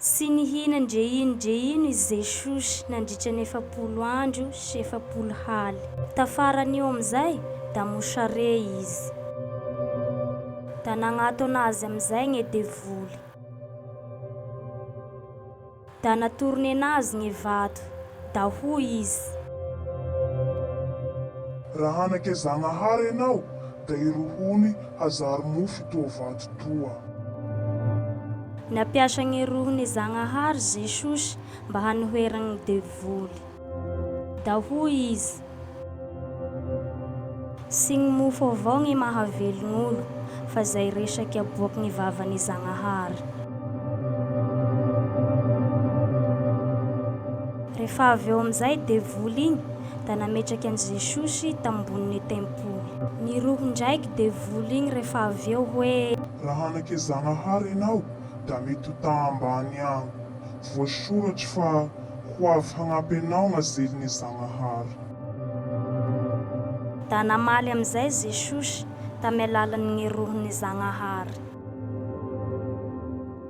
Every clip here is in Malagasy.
Tsy nihina ndre ino ndre ino i Jesosy nandritra ny efapolo andro sy efapolo haly. Tafaran'io amin'izay, da mosare Izy. Da nagnatona Azy amin'izay gne devoly. Da natorony enazy gne vato. Da hoy Izy. Raha anake Zagnahary enao, Da ireo hono hazary mofo toa vato toa. Nampiasa gny rohon'i Zagnahary Jesosy mba hanoheragny gny devoly. Da hoy Izy, Tsy gny mofo avao gny mahavelogn'olo, fa zay resaky aboaky gny vavan'i Zagnahary. Rehefa avy eo amizay devoly igny da nametraky an'i Jesosy tambonin'ny tempoly. Baiboly. Ny rohy ndraiky dia vola igny rehefa avy eo hoe. Raha hanake Zagnahary enao da mety ho ta ambany agny. Voasoratry fa ho avy hagnampy anao gna zeline Zagnahary. Da namaly amizay Jesosy tamy alalan gny rohiny Zagnahary.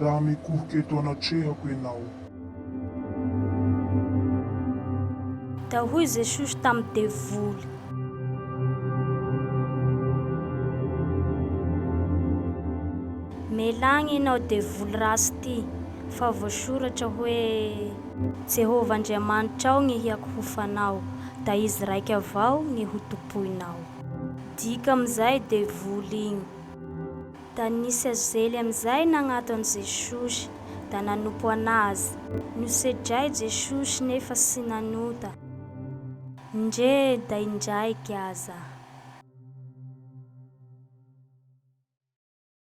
raha mikohoka eto anatrehako ianao. Dia hoy Jesosy tamin'ny devoly. Melagna ianao devoly ratsy ity, fa voasoratra hoe. Jehovah Andriamanitrao gny hiakohofanao, da izy raika avao gny hotompoinao. Dika amin'izay devoly igny. Da nisy azely amizay nagnato an'i Jesosy, da nanompo an'Azy. Nosedray Jesosy nefa sy nanota. Ndre da indraiky aza.